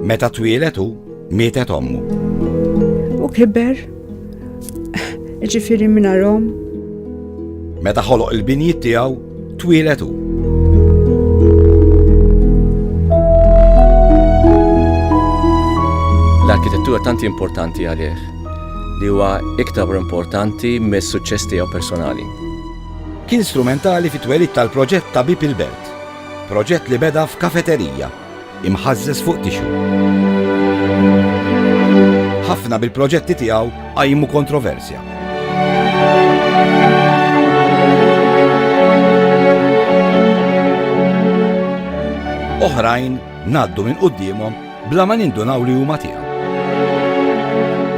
Meta twieled hu, mietet ommu. U kiber, ġifiri minna rom. Meta ħoloq il-binjiet tiegħu, twieled hu. L-arkitettura tanti importanti għalih li huwa iktar importanti mis-suċċess tiegħu personali. Kien strumentali fit-twelid tal-proġett ta' Bib il-Belt. Proġett li beda f'kafeterija, imħażżeż fuq tixu. Ħafna bil-proġetti tiegħu qajmu kontroversja. Oħrajn ngħaddu minn quddiemhom bla ma nindunaw li huma tiegħu.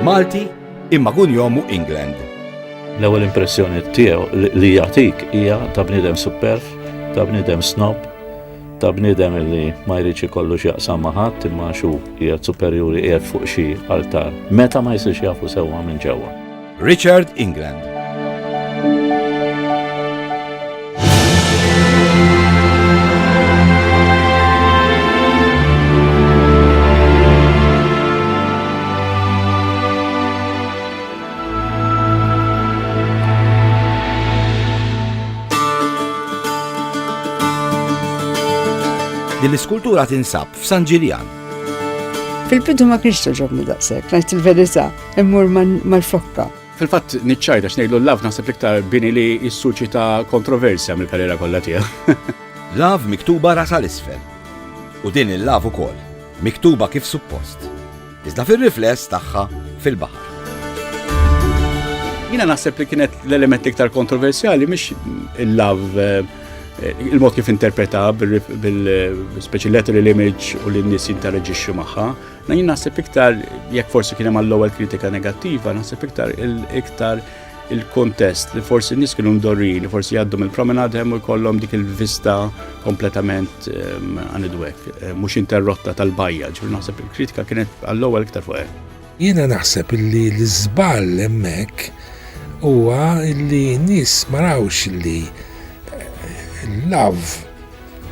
Malti Imma kun jomu England. L-ewwel impressjoni tiegħu li jagħtik hija ta' bniedem superf, ta' bniedem snob, ta' bniedem li ma jridx ikollu x'jaqsam ma' ħadd imma xu qiegħed superjuri qiegħed fuq xi altar. Meta ma jsirx jafu sewwa minn ġewwa. Richard England. Din l-iskultura tinsab f'San Ġiljan. Fil-bidu ma kienx toġobni daqshekk, ngħid il-verità, immur mal-frokka. Fil-fatt niċċajt għax ngħidlu l-lav naħseb l-iktar bini li jissuċita kontroversja mill-karriera kollha tiegħu. Lav miktuba rasa l-isfel. U din il-lav ukoll, miktuba kif suppost. Iżda fir-rifless tagħha fil-baħar. Jina naħseb li kienet l-element iktar kontroversjali mhix il-lav eh, il-mod kif interpreta bil-speċi letter l-image u l-nis jinteragġixxu magħha. Ma jien naħseb iktar, jekk forsi kien hemm l-ewwel kritika negattiva, naħseb iktar iktar il-kontest li forsi n-nies kienu mdorri li forsi jgħaddu mill-promenad hemm u jkollhom dik il-vista kompletament għanidwek, ehm, ehm, mhux interrotta tal-bajja, ġifier naħseb il-kritika kienet għall-ewwel iktar fuq hemm. Jiena naħseb illi l-iżball hemmhekk huwa illi n-nies ma rawx illi eh, l-love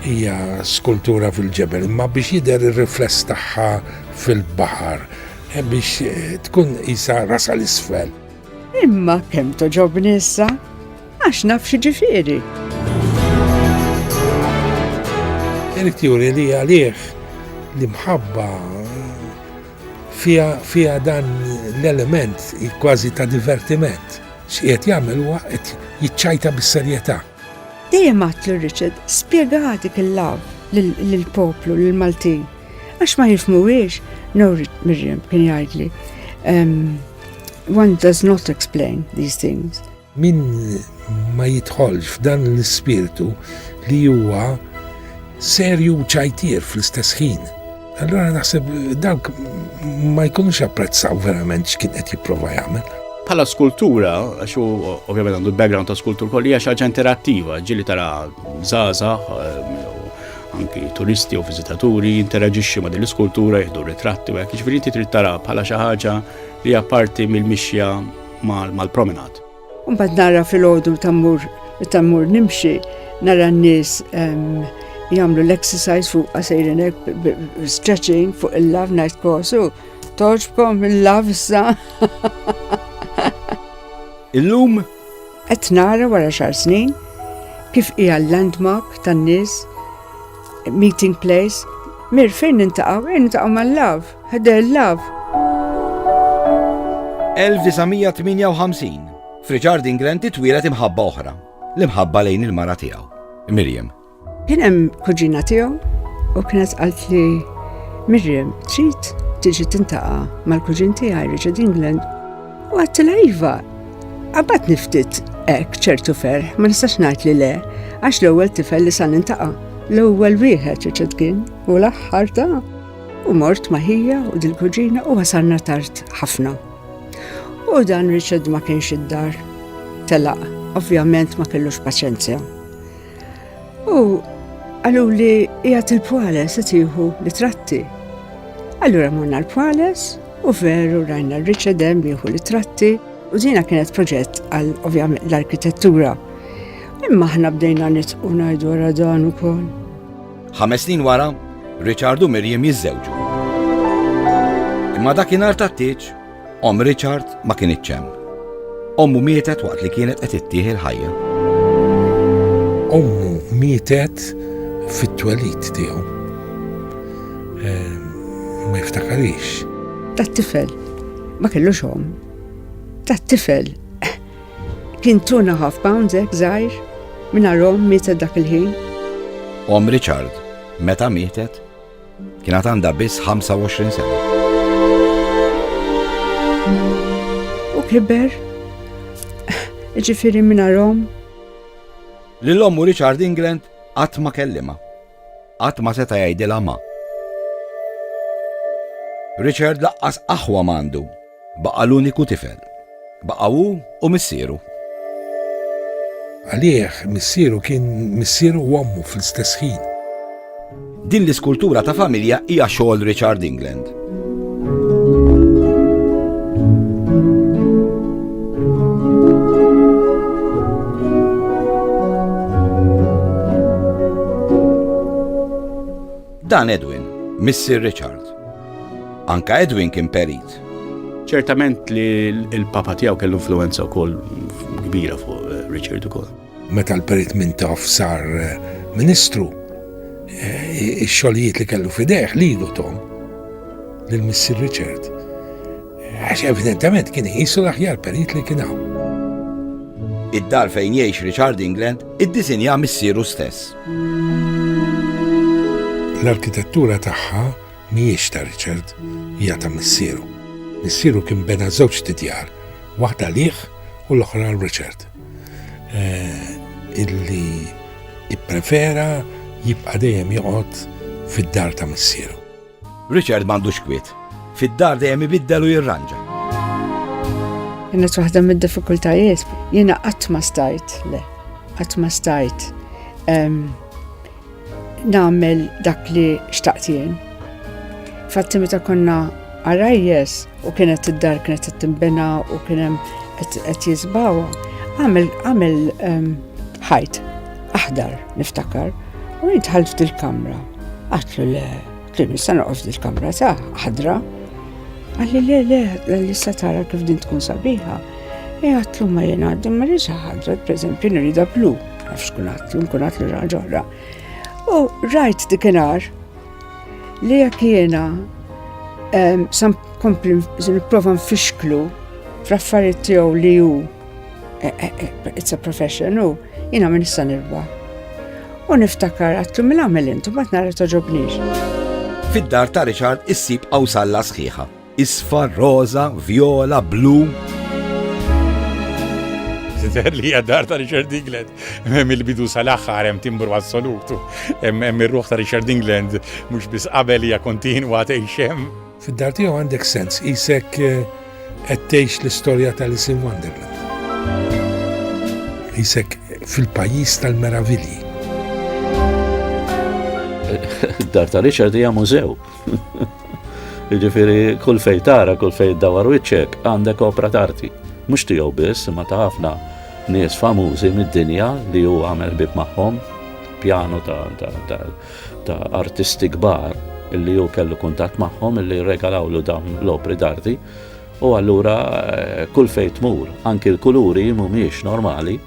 Hija skultura fil-ġebel, imma biex jidher ir-rifless tagħha fil-baħar, e biex e, tkun isa rasa l-isfel. Imma kemm toġobni issa, għax naf xi ġifieri. Irid juri li għalih l-imħabba fija dan l-element kważi ta' divertiment. X'qiegħed jagħmel huwa qed jiċċajta bis-serjetà. Dejjem għadt lil Richard, spjega għatik il-love lill-poplu, lill-Maltin. Għax ma jifmuwiex, no Miriam kien jgħidli. One does not explain these things. Min ma jidħolx f'dan l-ispirtu li huwa serju u ċajtier fl-istess ħin. Allura naħseb dawk ma jkunux apprezzaw verament x'kien qed jipprova jagħmel. Bħala skultura, għax u ovvjament għandu background ta' skultur kolli għax ħaġa interattiva, ġili tara zaza, eh, anki turisti u vizitaturi interaġixxi ma' din l-iskultura jieħdu ritratti u hekk jiġifieri trid tara bħala xi ħaġa li hija parti mill-mixja mal-promenad. Mbagħad nara fil-ħodu ta' mur ta' mur nimxi nara n-nies ehm, jagħmlu l-exercise fuq għasejrin stretching fuq il-lav ngħid kosu toġbkom il-lav issa. Illum qed nara wara xar snin kif hija l-landmark tan-nies meeting place mir fejn nintaqgħu, intaqgħu mal-lav. Ħdel Love. 1958. F'Richard England titwielet imħabba oħra, l-imħabba lejn il-mara tiegħu, Miriam. Kien hemm kuġina tiegħu u kienet qalt li Miriam trid tiġi tintaqa' mal-kuġin tiegħi Richard England u għattila iva. Qabad niftit hekk ċertu ferħ ma nistax ngħid li le għax l-ewwel tifel li sa nintaqa' l-ewwel wieħed Richard kien u l-aħħar ta' U mort ma' ħija u dil-kuġina u wasalna tard ħafna. U dan Richard ma kienx id-dar. Telaq, ovvjament ma kellux paċenzja. U għallu li jgħat il-pwales tiħu li tratti. Allura morna l-pwales u veru rajna Richard hemm jieħu li tratti u dina kienet proġett għal ovvjament l-arkitettura. Imma ħna bdejna nitqu ngħidu għara dan ukoll. Ħames snin wara, Richard u Miriam jiżżewġu. Imma dakinhar tat-tieġ, om Richard ma kien iċċem. Ommu mietet waqt li kienet qed ittieħi l-ħajja. Ommu mietet fit-twelid tiegħu. Eh, ma jiftakarix. Tat-tifel ma kellux om. Tat-tifel Kien tuna half pounds hekk żgħir, mingħajr omm mietet dak il-ħin. Omm Richard, meta mietet, kien għad għandha biss 25 sena. U kiber, ġifiri minna rom. L-lommu Richard England għat ma kellima. Għat ma seta jgħidila ma. Richard laqqas aħwa mandu Baqa' l-uniku tifel. Baqa' hu u missieru. Għalih, missieru kien missieru u ommu fl-istess ħin. Din l-iskultura ta' familja hija xogħol Richard England. Dan Edwin, missier Richard. Anke Edwin kien perit. Ċertament li l-papa tiegħu kellu influenza wkoll kbira fuq eh, Richard ukoll. Meta l-perit minn taf sar eh, ministru, eh, ix-xogħlijiet li kellu fidejh lilu tom lil missier Richard. Għax evidentement kien jisu l-aħjar perit li kien hawn. Id-dar fejn jgħix Richard England iddisinja missieru stess. L-arkitettura tagħha mhijiex ta' Richard, hija ta' missieru. Missieru kien bena żewġ tidjar, waħda liħ u l-oħra għal Richard. Eh, illi ipprefera jibqa' dejjem joqgħod fid-dar ta' missieru. Richard m'għandux kwiet. Fid-dar dejjem ibiddel u jirranġa. Kienet waħda mid-diffikultajiet. Jiena qatt ma stajt, le, qatt ma stajt nagħmel dak li xtaqt jien. Fatti meta konna għarajjes u kienet id-dar kienet t-timbena u kienem qed jizbawa, għamel ħajt. aħdar, niftakar, u jitħalt f'dil-kamra. Għatlu le, kien nista' noqgħod f'dil-kamra sa' ħadra. Għalli le le, li sa tara kif din tkun sabiħa. E għatlu ma jena għaddim ma rridx ħadra, pereżempju nirida blu, għafx kun għatlu, nkun għatlu raġa oħra. U rajt dikinar li jekk jiena sam kompli nipprova nfixklu fl-affarijiet tiegħu li hu Eh, eh, eh, it's a profession, u jina minn issa nirba. U niftakar għattu minn għamil intu, ma t-nara toġobnix. Fid-dar ta' Richard issib għawsalla sħiħa. Isfa, roza, viola, blu. Zider li għaddar ta' Richard Dingland, hemm il-bidu sal-axħar, hemm timbru assolutu, hemm ir-ruħ ta' Richard Dingland, mux bis qabel hija kontinwa ta' xem. Fid-dar tiegħu għandek sens qisek qed tgħix l-istorja tal-Alice in Wonderland. Qisek fil-pajjiż tal-meravilji. Id-dar ta' Richard hija mużew. Jiġifieri kull fejn tara, kull fejn dawar wiċċek għandek opra tarti. Mhux tiegħu biss, ma ta' ħafna nies famużi mid-dinja li hu għamel bib magħhom, pjanu ta' ta' artisti kbar illi hu kellu kuntatt magħhom illi rregalawlu dawn l-opri d'arti u allura eh, kull fejn tmur anki l-kuluri mhumiex normali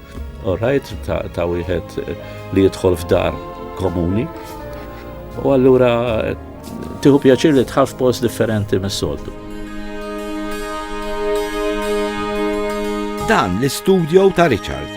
orajt ta', ta wieħed eh, li jidħol f'dar komuni u allura eh, tiħu pjaċir li tħaf post differenti mis-soltu. Dan l-istudio ta' Richard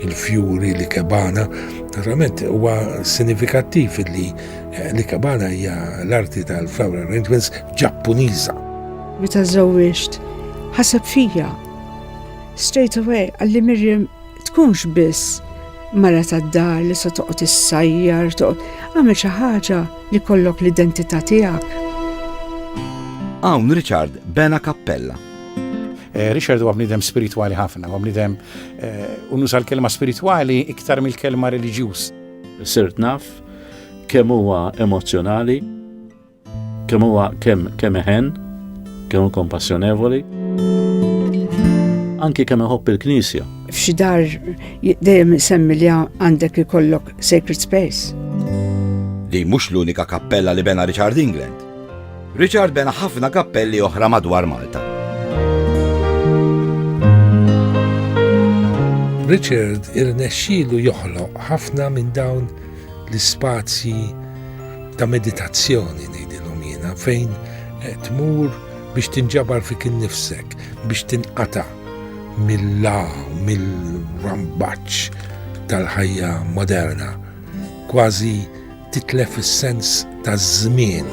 il-fjuri li kebana. Naturalment huwa sinifikattiv li li kebana hija l-arti tal-flower arrangements Ġappuniża. Meta żewwiġt, ħaseb fija. Straight away għalli Mirjam tkunx biss mara tad-dar li se toqgħod issajjar, toqgħod għamel xi ħaġa li kollok l-identità tiegħek. Hawn Richard bena kappella Eh, Richard huwa bnidem spiritwali ħafna, huwa bnidem eh, unuża l-kelma spiritwali iktar mill-kelma reliġjuż. Sirt naf kemm huwa emozjonali, kemm huwa kemm kemm eħen, kemm kompassjonevoli. Anki kemm iħobb il-Knisja. F'xi dar dejjem semmi li għandek ikollok sacred space. Li mhux l-unika kappella li bena Richard England. Richard bena ħafna kappelli oħra madwar Malta. Richard irnexxielu joħloq ħafna minn dawn l-ispazji ta' meditazzjoni ngħidilhom jiena fejn eh, tmur biex tinġabar fik innifsek, biex tinqata mill-la, mill-rambaċ tal-ħajja moderna. Kważi titlef is-sens taż-żmien.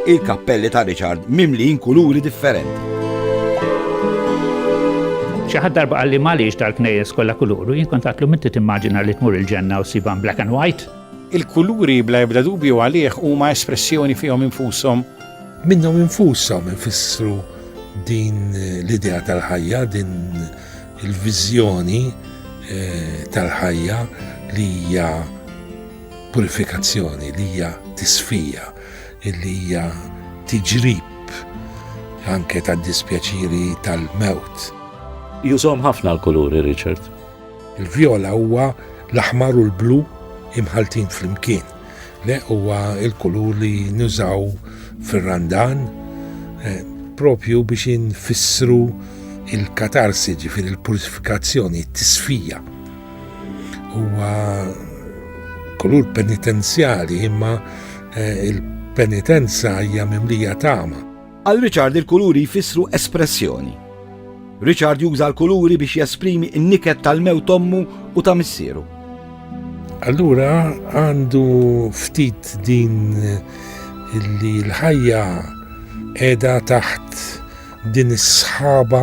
Il-kappelli ta' Richard mimlijin kuluri differenti. Xi ħadd darba qalli m'għaliex tal-knejjes kollha kuluru, jien kont għatlu minti timmaġina li tmur il-ġenna u siban black and white. Il-kuluri bla ebda dubju għalih huma espressjoni fihom infushom. Minnhom infushom infissru din l-idea tal-ħajja, din Il-viżjoni eh, tal-ħajja li hija purifikazzjoni, li hija tisfija, li hija tiġrib anke tad-dispjaċiri tal-mewt. Jużom ħafna l-kuluri, Richard. Il-vjola huwa l-aħmar u l-blu imħaltin flimkien. Le, huwa l-kulur li nużaw fir-Randan eh, propju biex infissru il-katarsi, ġifir il-purifikazzjoni, t-tisfija. Huwa kulur penitenzjali imma eh, il-penitenza hija mimlija tama. Għal Richard il-kuluri jfissru espressjoni. Richard juża l-kuluri biex jesprimi n-niket tal-mew tommu u ta' missieru. Allura għandu ftit din li l-ħajja edha taħt din is-sħaba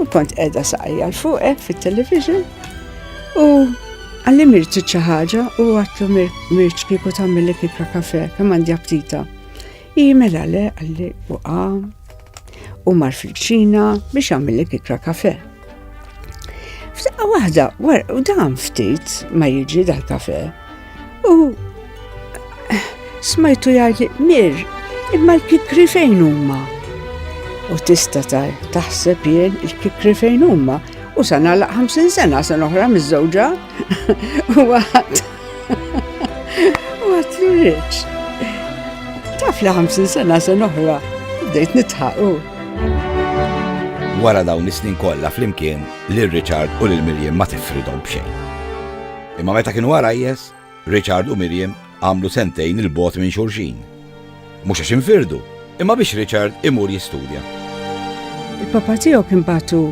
U kont edha saqajja l-fuqek eh, fit-television u għalli mirti ċaħġa u għattu mirċ kiku tammilli kikra kafe, kemm għandi aptita. I mela le għalli u għam u mar fil-ċina biex għamilli kikra kafe. F'daqqa wahda, u dan ftit ma jiġi dal-kafe, U smajtu jgħid mir, imma l-kikri fejn huma? U tista taħseb jien il-kikri fejn huma u sa nagħlaq 50 sena sen oħra miż-żewġa. U għat. U għat l-riċ. Taf li 50 sena sen oħra bdejt nitħaqu. Wara dawn is-snin kollha flimkien lil Richard u lil Miljen ma tifridhom b'xejn. Imma meta kienu għarajjes, Richard u Miriam għamlu sentejn 'il bogħod minn xulxin. Mhux għax infirdu, imma biex Richard imur jistudja. Il-papa tiegħu kien batu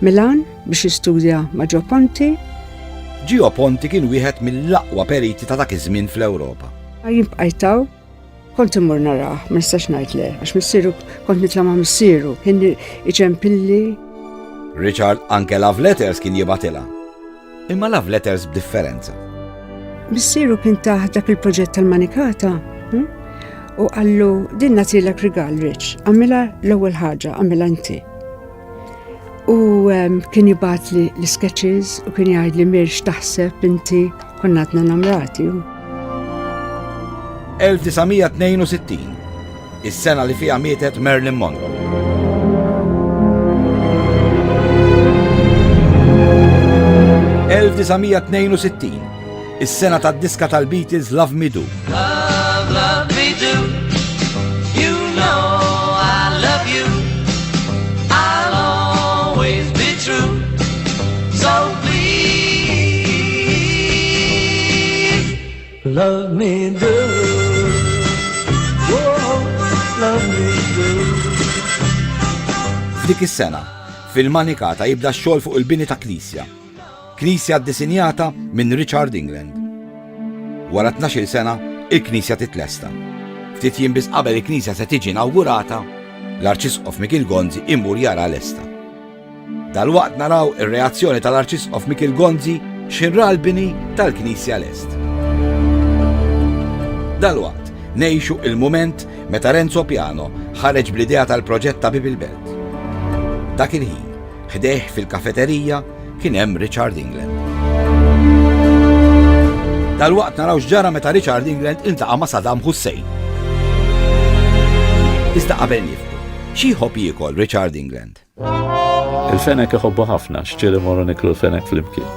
Milan biex jistudja ma' Ġo Ponti. Ġio Ponti kien wieħed mill-aqwa periti ta' dak iż-żmien fl-Ewropa. Jibqajtaw Kont immur narah, ma nistax ngħid le, għax missieru kont nitla' ma' missieru, kien iċempilli. Richard anke love letters kien jibatilha. Imma love letters b'differenza. Missieru kien taħ dak il-proġett tal-manikata hm? u qallu din nagħtilek rigal Rich, għamilha l-ewwel ħaġa, għamilha inti. U ehm, kien jibat li l-sketches u kien jgħid li mirx taħseb inti konnatna namrati. 1962, is-sena li fija mietet Merlin Monroe. Is-sena tad-diska tal-Beatles Love Me Do. Love, love me do. You know I love you. I'll always be true. So please love me do. Dik is-sena, fil-Manikata jibda x-xogħol fuq il-bini ta' knisja. Knisja ddisinjata minn Richard England. Wara tnax-il sena, il-knisja titlesta. Ftit jiem biss qabel il-knisja se tiġi inawgurata, l-Arċisqof Mikiel Gonzi imur jaraha lesta. Dalwaqt naraw ir-reazzjoni tal-Arċisqof Mikiel Gonzi x'inhu ra l-bini tal-knisja lest. Dalwaqt ngħixu il-mument meta Renzo Piano ħareġ bl-idea tal-proġett ta' Bieb il-Belt. Dak il-ħin, Ħdejh fil-kafeterija kien hemm Richard England. Dalwaqt naraw x'ġara meta Richard England iltaqa' ma' Saddam Hussein. Iżda qabel nifku, xi jħobb jiekol Richard England? Il-fenek iħobbu ħafna, xċiri morru niklu l-fenek fl-imkien.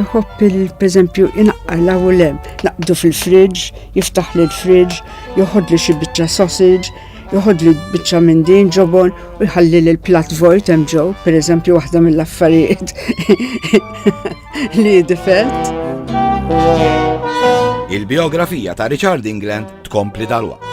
Iħobb il-peżempju inaqqala u lem, naqdu fil-fridge, jiftaħ li l-fridge, joħodli xi biċċa sausage, Joħod li biċċa minn din ġobon u jħalli li l-plat vojt hemm ġew, pereżempju waħda mill-affarijiet li difett. Il-biografija ta' Richard England tkompli dal-waqt.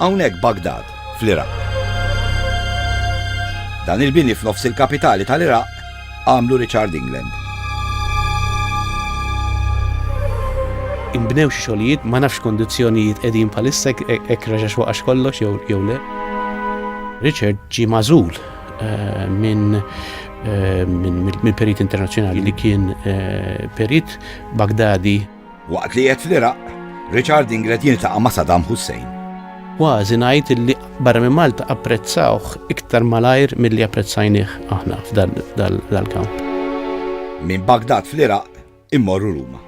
Hawnhekk Baghdad, fl-Iraq. Dan il-bini f'nofs il-kapitali tal-Iraq għamlu Richard England. Inbnew xi xogħlijiet ma nafx x'kondizzjonijiet qegħdin bħalissa hekk reġax waqax kollox jew le. Richard ġie magħżul eh, minn eh, minn perit internazzjonali li kien eh, perit Baghdadi Waqt li qiegħed fl-Iraq, Richard Inglet jiltaqa' ma' Saddam Hussein. Kważi ngħid li barra minn Malta apprezzawh iktar malajr milli apprezzajnieh aħna f'dal-kamp. Minn Baghdad fl-Iraq immorru Ruma.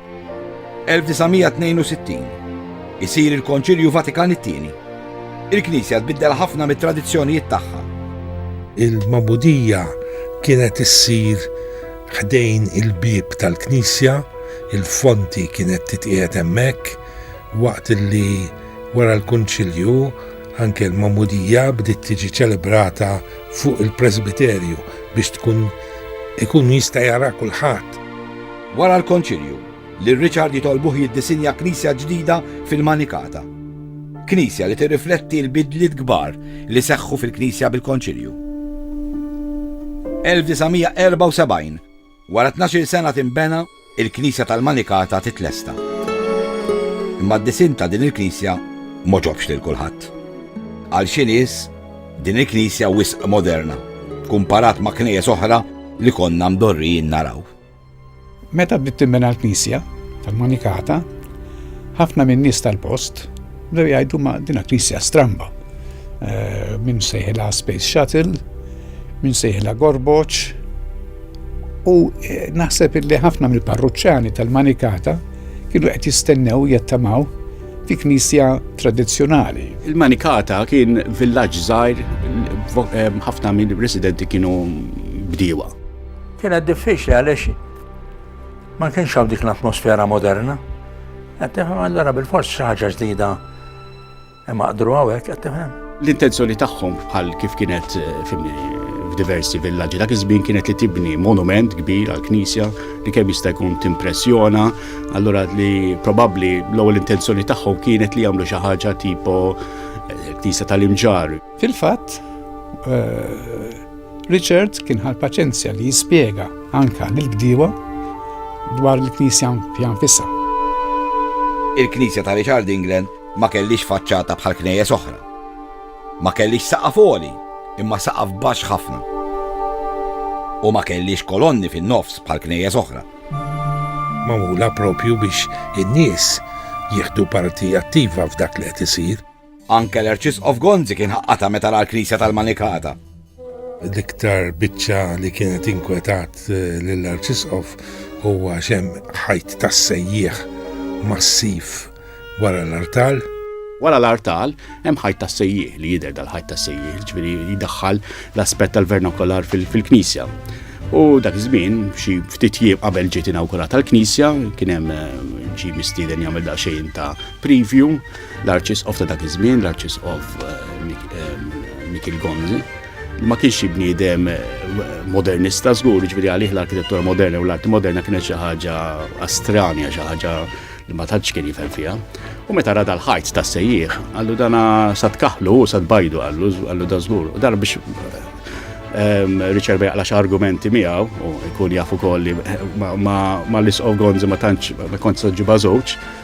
1962, Isir il-Konċilju Vatikan it-Tieni. Il-Knisja tbiddel ħafna mit-tradizzjonijiet tagħha. Il-magħmudija kienet issir ħdejn il-bieb tal-knisja, il-fonti kienet titqiegħed hemmhekk, waqt li wara l-Kunċilju anke l-Magħmudija bdiet tiġi ċelebrata fuq il-presbiterju biex tkun ikun jista' jara kulħadd. Wara l-Konċilju, Lil Richard jitolbuh jiddisinja knisja ġdida fil-Manikata. Knisja li tirrifletti l-bidliet kbar li seħħu fil-Knisja bil-Konċilju. 1974, Wara tnax-il sena tinbena, il-Knisja tal-Manikata titlesta. Imma d-disinn ta' din il-knisja m'għoġobx lil kulħadd. Għal xi nies, din il-knisja wisq moderna, kumparat ma' knejjes oħra li konna mdorrijin naraw. Meta bdiet tinbena l-knisja tal-Manikata, ħafna min-nies tal-post bdew jgħidu ma' dina knisja stramba. Eh, min sejħilha Space Shuttle, min sejħilha Gorboċ. U eh, naħseb illi ħafna mill-parruċċani tal-Manikata kienu qed jistennew jattamaw fi knisja tradizzjonali. Il-Manikata kien villaġġ żgħir eh, ħafna mill-residenti kienu bdiewa. Kienet diffiċli għaliex ma kienx hawn dik l-atmosfera moderna. Qed tifhem allura bil-fors xi ħaġa ġdida imma qdru hawnhekk qed tifhem. L-intenzjoni tagħhom bħal kif kienet eh, f'diversi villaġġi dak iż-żmien kienet li tibni monument kbir għal knisja li kemm jista' jkun timpressjona, allura li probabbli l-ewwel intenzjoni tagħhom kienet li jagħmlu xi ħaġa tipo eh, knisja tal-imġar. Fil-fatt, eh, Richard kien ħal paċenzja li jispjega anka lil bdiewa dwar il-knisja fiha nfisha. Il-knisja ta' Richard England ma kellix faċċata bħal knejjes oħra. Ma kellix saqaf għoli, imma saqaf baxx ħafna. U ma kellix kolonni fin-nofs bħal knejjes oħra. Magħmula propju biex in-nies jieħdu parti attiva f'dak li qed isir. Anke l-Arċisqof Gonzi kien ħaqqata meta ra l-Knisja tal-Manikata. L-iktar biċċa li kienet inkwetat eh, lill-Arċisqof huwa xem ħajt tas-sejjieħ massiv wara l-artal. Wara l-artal, hemm ħajt tas-sejjieħ li jidher dal-ħajt tas-sejjieħ, ġifieri jidaħħal l-aspett tal-vernakolar fil-knisja. U dak iż-żmien, xi ftit jiem qabel ġiet inawgurata l-knisja, kien hemm eh, ġi mistieden jagħmel daqsxejn ta' preview L-Arċisqof ta' dak iż-żmien, l-Arċisqof Mikiel Gonzi, ma kienx xi bniedem eh, modernista żgur, ġifieri għalih l-arkitettura moderna u l-arti moderna kienet xi ħaġa astranja, xi ħaġa li ma tantx kien jifhem fiha. U meta rada l-ħajt ta' sejjieħ, għallu dana sa tkaħlu u sa tbajdu għallu, għallu da żgur. U dan biex ehm, Richard Bejqla xa argumenti miegħu u jkun jafu kolli ma l-isqof Gonzi ma tantx ma kontx ġiba żewġ,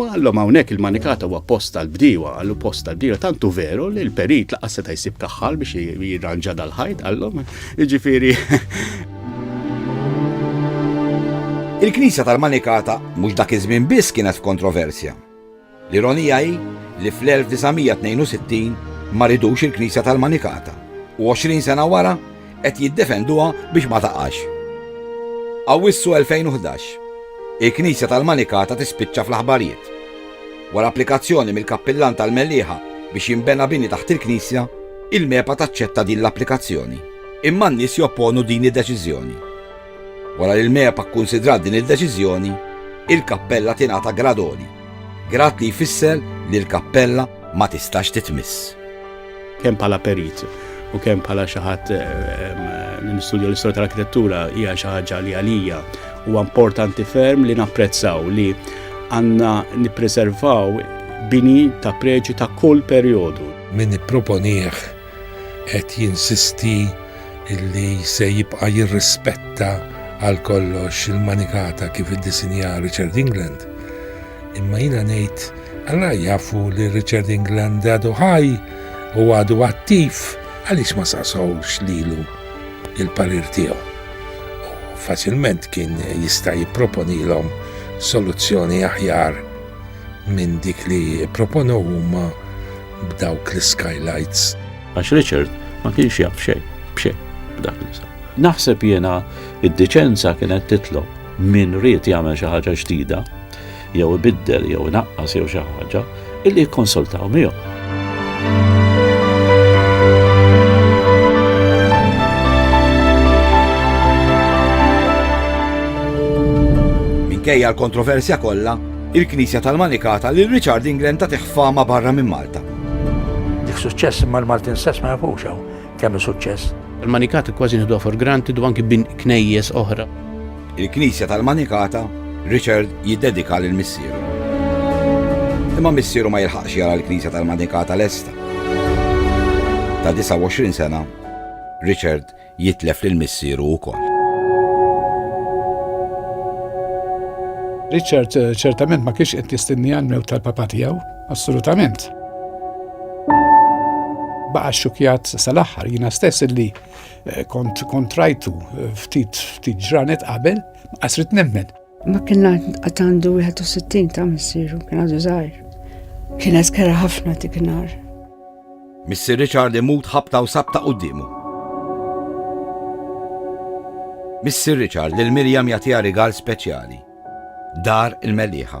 U għallhom hawnhekk il-manikat huwa post tal-bdiewa, għallu post tal-bdiewa, tantu veru li l-perit laqas seta' jsib kaħħal biex jirranġa dal-ħajt għallhom, jiġifieri Il-Knisja tal-Manikata mhux dak iż-żmien biss kienet f'kontroversja. L-ironija hi li fl-1962 ma ridux il-Knisja tal-Manikata u 20 sena wara Qed jiddefenduha biex ma taqax. Awwissu 2011. Il-Knisja tal-Manikata tispiċċa fl-aħbarijiet. Wara applikazzjoni mill-Kappillan tal-Mellieħa biex jinbena bini taħt il-Knisja, il-MEPA taċċetta din l-applikazzjoni. Imma n-nies jopponu din id-deċiżjoni. Wara li l-MEPA kkunsidrat din id-deċiżjoni, il-kappella tingħata grad għoli, grad li jfisser li l-kappella ma tistax titmiss. kemm bħala perit u kemm bħala xi ħadd li nistudja l-istorja tal-arkitettura hija xi ħaġa li għalija huwa importanti ferm li napprezzaw li għandna nippreservaw bini ta' preġi ta' kull perjodu. Min ipproponih qed jinsisti illi se jibqa' jirrispetta għal kollox il-manikata kif iddisinja Richard England. Imma jiena ngħid, Alla jafu li Richard England għadu ħaj u għadu attiv għaliex ma saqsawx lilu il-parir tiegħu. Faċilment kien jista' jipproponilhom soluzzjoni aħjar minn dik li proponow huma b'dawk l-skylights. Għax Richard ma kienx jaf xejn, b'xejn b'dak li Naħseb jiena id-diċenza kienet titlob Min ried jagħmel xi ħaġa ġdida, jew ibiddel jew inaqqas jew xi ħaġa, illi jikkonsultaw miegħu. Minkejja l-kontroversja kollha, il-Knisja tal-Manikata li Richard England ta' teħfama barra minn Malta. Dik suċċess imma l-Maltin stess ma jafux hawn. tagħmel suċċess. Il-Manikata kważi nieħduha for granted u anki bin knejjes oħra. Il-Knisja tal-Manikata, Richard jiddedika lil missieru. Imma missieru ma jilħaqx jara l-Knisja tal-Manikata lesta. Ta' 29 sena, Richard jitlef lil missieru wkoll. Richard eh, ċertament ma kienx qed jistenni għal-mewt tal-papa tiegħu, Assolutament. Baqa xukjat sal-axħar jina stess li eh, kont kontrajtu eh, ftit ftit ġranet qabel, qasrit nemmen. Ma kien għatandu 61 ta' missiru, kien għadu zaħir. Kien eskera ħafna dik nar. Missir Richard imut ħabta u sabta quddiemu. Missir Richard lil Mirjam jagħtiha rigal speċjali. Dar il-Meliħa.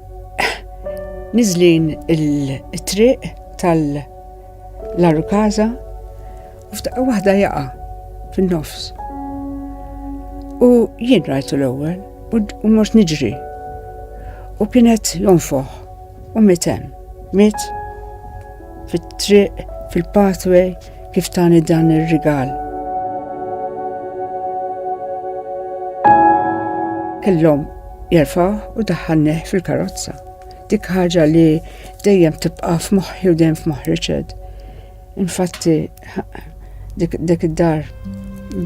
Nizlin il-triq tal-Larukaza u f'daqqa waħda jaqa' fin-nofs. U jien rajtu l-ewwel u mhux niġri. U kienet jonfoħ u mitem, mit fit-triq, fil-pathway, kif tani dan ir-rigal. Kellhom jerfaw u daħħalnih fil-karozza. Dik ħaġa li dejjem tibqa' f'moħħi u dejjem f'moħħ Richard. Infatti dik id-dar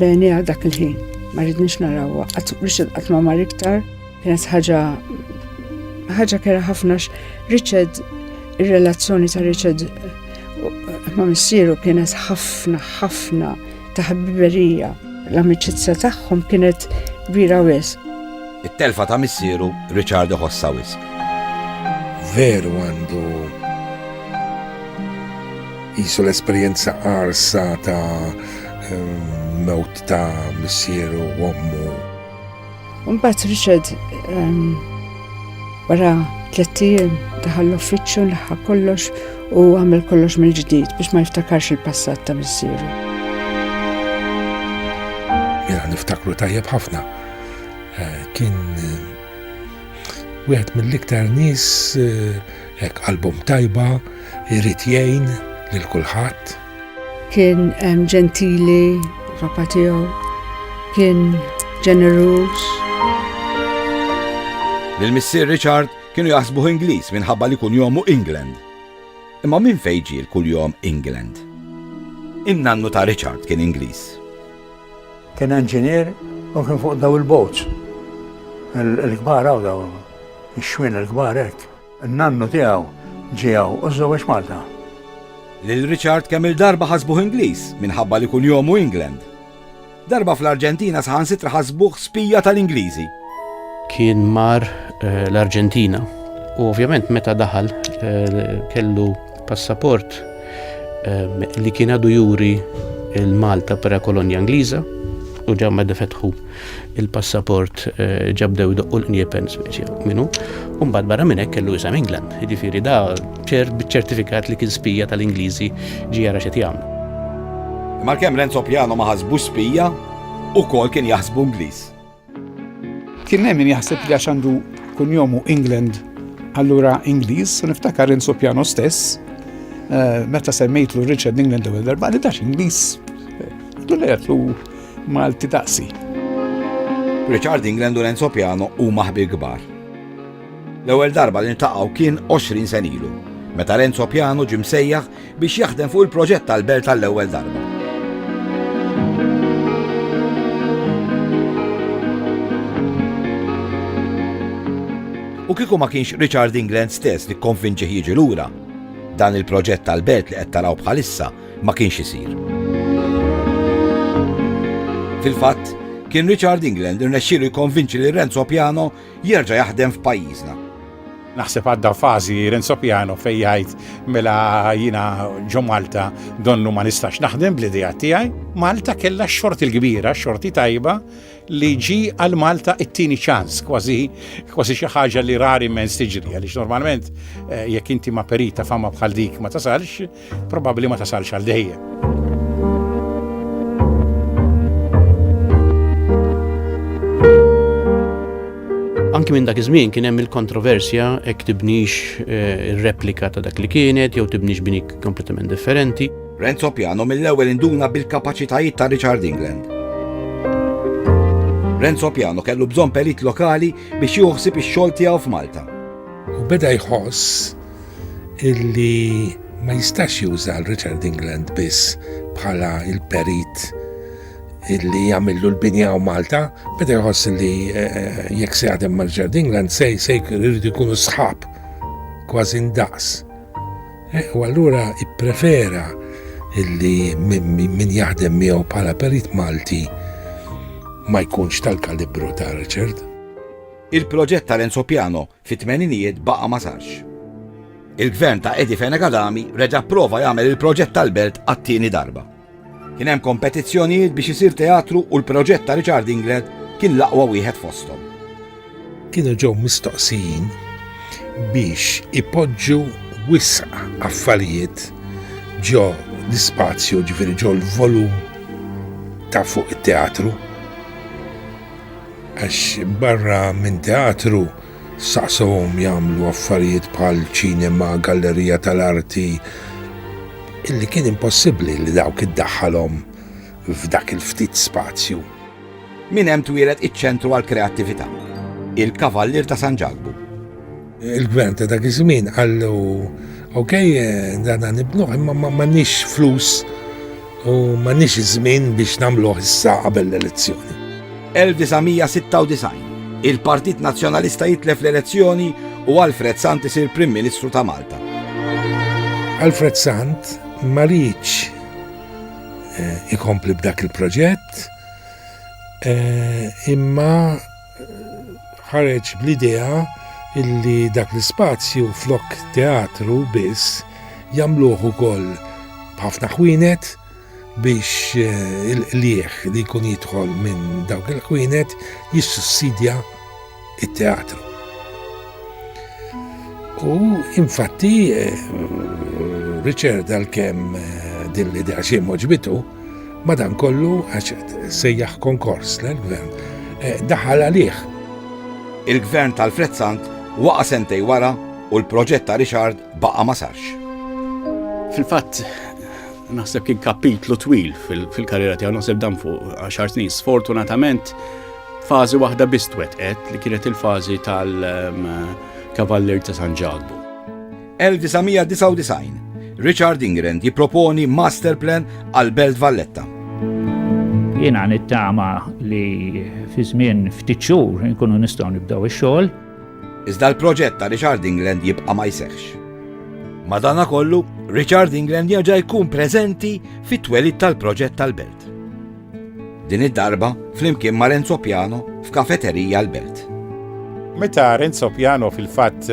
benija dak il-ħin ma rridniex narawha, Richard qatt ma mar iktar. Kienet ħaġa ħaġa kera ħafna Richard ir-relazzjoni ta' Richard ma' missieru kienet ħafna ħafna ta' ħbiberija. L-amicizza tagħhom kienet kbira wis. It-telfa ta' missieru Richard iħossa wis. Veru għandu jisu l-esperjenza arsa ta' eh, mewt ta' missieru u ommu Mbagħad Richard ehm, wara tliet ijiem daħal l-uffiċċju laħħa kollox u għamel kollox mill-ġdid biex ma jiftakarx il-passat ta' missieru. Jena niftakru tajjeb ħafna. Eh, kien eh, wieħed mill-iktar nies eh, qalbhom tajba, irid jgħin lil kulħadd. Kien ġentili, papa tiegħu, kien ġeneruż. L-missier Richard kienu jaħsbuh Ingliż minħabba li kull jomu England. Imma minn fejġi l-kull jom England? In-nannu ta' Richard kien Ingliż. Kien inġinier u kien fuq daw il-boats. Il-kbar għaw daw, il-xwin il-kbar hekk. N-nannu tiegħu ġie hawn u żżewweġ Malta. Lil Richard kemm-il darba ħasbuh Ingliż minħabba li kunjomu England. Darba fl-Arġentina saħansitra ħasbuh spija tal-Ingliżi. Kien mar l-Arġentina u ovvjament meta daħal kellu Passaport ehm, li kien għadu juri il-Malta pera kolonja Ingliża u ġa ma defetħu il-passaport eh, ġabdew doqqu l-niepen speċi minnu. Umbad barra minn hekk kellu isem England, jiġifieri da ċert biċ-ċertifikat li kien spija tal-Ingliżi ġi jara xi jagħmlu. Malkemm Renzo Piano ma ħasbu spija u kol kien jaħsbu Ingliż. Kien hemm min jaħseb li għax għandu kunjomu England allura Ingliż, u niftakar Renzo Piano stess eh, meta semmejtlu Richard England u darba li dax Ingliż. Dulejatlu Malti daqsi. Richard England u Renzo Piano u maħbi kbar. L-ewwel darba li ntaqgħu kien 20 senilu, meta Renzo Piano ġim sejjaħ biex jaħdem fuq il-proġett tal-belt tal-ewwel darba. U kieku ma kienx Richard England stess li konvinċi jiġi lura, dan il-proġett tal-belt li qed taraw bħalissa ma kienx isir. Fil-fatt, kien Richard England irnexxielu jkonvinċi li Renzo Piano jerġa' jaħdem f'pajjiżna. Naħseb għadda fażi Renzo Piano fejn jgħid mela jiena ġo Malta donnu ma nistax naħdem bl-idea tiegħi. Malta kellha x-xort il-kbira, xorti tajba li ġi għal Malta it-tieni ċans, kważi kważi xi ħaġa li rari mens tiġri għaliex normalment eh, jekk inti ma perita fama bħal dik ma tasalx, probabbli ma tasalx għal dejjem. Anki minn dak iż-żmien kien hemm il-kontroversja hekk tibnix eh, replika ta' dak li kienet jew tibnix bini kompletament differenti. Renzo Piano mill-ewwel induna bil-kapaċitajiet ta' Richard England. Renzo Piano kellu bżonn perit lokali biex joħsib ix-xogħol tiegħu f'Malta. U beda jħoss illi ma jistax juża l-Richard England biss bħala il-perit illi jagħmillu l-binja u Malta, beda jħoss li eh, eh, jekk se jadem ma' Richard England se se jridu jkunu sħab kważi ndaqs. Eh, u allura ipprefera illi min jaħdem miegħu bħala perit Malti ma jkunx tal-kalibru ta' Richard. Il-proġett tal-Enzo Piano Fit-tmeninijiet baqa' ma sarx. Il-Gvern ta' Eddie Fenech Adami reġa' pprova jagħmel il-proġett tal-Belt għat-tieni darba. Kien hemm kompetizzjonijiet biex isir teatru u l-proġett ta' Richard Inglet kien l-aqwa wieħed fosthom. Kienu ġew mistoqsijin biex ipoġġu wisq affarijiet ġo l-ispazju, jiġifieri ġo l-volum ta' fuq it-teatru. Għax barra minn teatru, saqsewhom jagħmlu affarijiet bħal ċinema, gallerija tal-arti, illi kien impossibbli li dawk iddaħħalhom f'dak il-ftit spazju. Minn hemm twieled iċ-Ċentru għall-Kreattività, il-Kavallier ta' San Ġakbu. Il-gvern ta' dak iż-żmien qallu ok, dan nibnuh imma m'għandniex flus u m'għandniex iż-żmien biex nagħmluh issa qabel l-elezzjoni. 1996 il-Partit Nazzjonalista jitlef l-elezzjoni u Alfred Sant isir Prim Ministru ta' Malta. Alfred Sant ma rridx eh, ikompli b'dak il-proġett eh, imma ħareġ bl-idea illi dak l-ispazju flok teatru biss jagħmluh ukoll b'ħafna ħwienet biex eh, il-qlieħ li jkun jidħol minn dawk il-ħwienet jissussidja it-teatru. U infatti eh, Richard għal-kem eh, din l-idea xie moġbitu, Madankollu, għax sejjaħ konkors l-gvern, eh, daħal għalih. Il-gvern tal-Frezzant waqa sentej wara u l-proġett ta' Richard baqa ma sarx. Fil-fatt, naħseb kien kapitlu twil fil-karriera tiegħu naħseb dan fuq 10 snin. Sfortunatament, fażi waħda bistwet qed li kienet il-fażi tal-Kavaller ehm, ta' San Ġalbu. 1999 Richard Ingren jipproponi master plan għal Belt Valletta. Jiena nittama li fi żmien ftit xhur nkunu nistgħu nibdew ix-xogħol. Iżda l-proġett ta' Richard England jibqa' ma jsehx. Madana kollu, Richard England jaġa jkun preżenti fit-twelid tal-proġett tal-belt. Din id-darba flimkien ma' Renzo Piano f'Kafeterija l-Belt. Meta Renzo Piano fil-fatt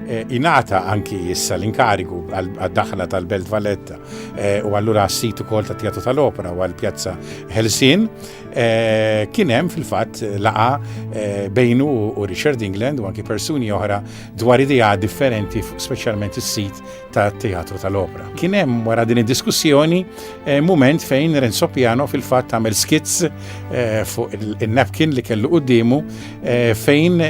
Eh, inata anki issa l-inkarigu għad-daħla tal-Belt Valletta eh, u allura għas-sit ukoll ta' Teatru tal-Opera u għall-Pjazza Helsin eh, kien hemm fil-fatt laqa bejnu u Richard England u anki persuni oħra dwar idea differenti speċjalment is-sit ta' teatru tal-opra. Kien hemm wara din id-diskussjoni eh, mument fejn Renzo Piano fil-fatt għamel skits eh, fuq il-napkin li kellu quddiemu eh, fejn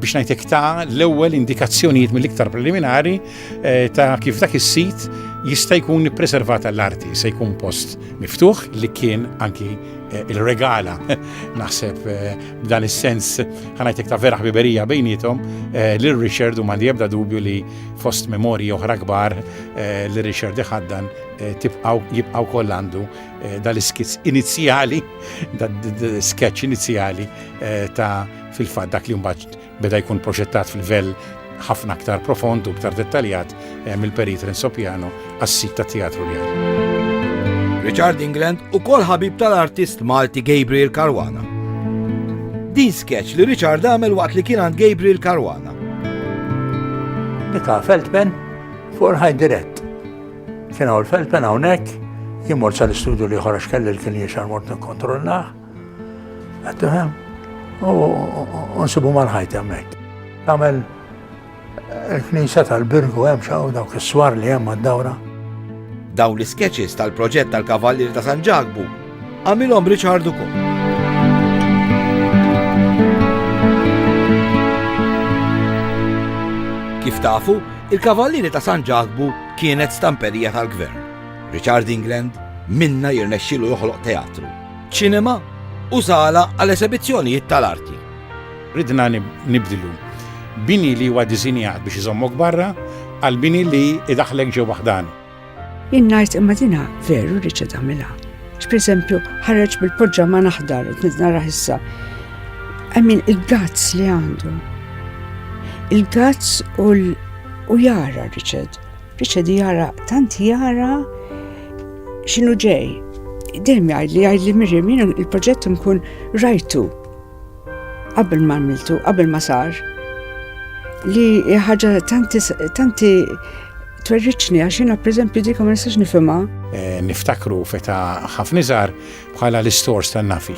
biex najtek ta' l-ewwel indikazzjonijiet mill-iktar preliminari eh, ta' kif dak is-sit jista' jkun preservata l-arti, se jkun post miftuħ li kien anki eh, il-regala naħseb eh, b'dan is-sens ħanajtek ta' vera ħbiberija bejnietom lil Richard u mandi ebda dubju li fost memorji oħra kbar eh, li Richard iħaddan eh, tibqaw jibqaw koll għandu eh, dal-skizz inizjali, dal-sketch inizjali ta' fil-fat dak li mbagħad beda jkun proġettat fil-vel ħafna aktar profond u aktar dettaljat mill-perit Renzo Piano għas-sit tat-Teatru Reali. Richard England ukoll ħabib tal-artist Malti Gabriel Caruana. Din sketch li Richard għamel waqt li kien għand Gabriel Caruana. Nika Feldpen fuq ħaj dirett. Kien hawn Feldpen hawnhekk jimur sa l-istudju li ħorax kelli l-kien jiexar mort nikkontrollah. Għattu hemm, u nsibu mal-ħajt hemmhekk. Għamel Il-Knisja tal-Birgu hemm xaw dawk is-swar li hemm għad-dawra. Dawn l-iskeċis tal-proġett tal-Kavallier ta' San Ġakbu għamilhom Richard ukoll. Kif tafu, il-Kavallieri ta' San Ġakbu kienet stamperija tal-gvern. Richard England minna jirnexxilu joħloq teatru, ċinema u sala għal esebizzjonijiet tal-arti. Ridna nibdlu bini li huwa disinjat biex iżommok barra għal bini li idaħħlek ġewwa ħdan. Jien ngħid imma dina veru riċa tagħmilha. X'pereżempju ħareġ bil-poġġa ma naħdar qed nara issa. Għamin il-gazz li għandu. Il-gazz u jara Richard. Richard jara tant jara x'inhu ġej. Dejjem jgħid li jgħid li Miriam il-proġett nkun rajtu. Qabel ma għamiltu, qabel ma sar, li ħaġa tanti twerriċni għax jiena pereżempju dik ma nistax nifhimha. Eh, niftakru feta ħafna żgħar bħala l-istors tan-nafi.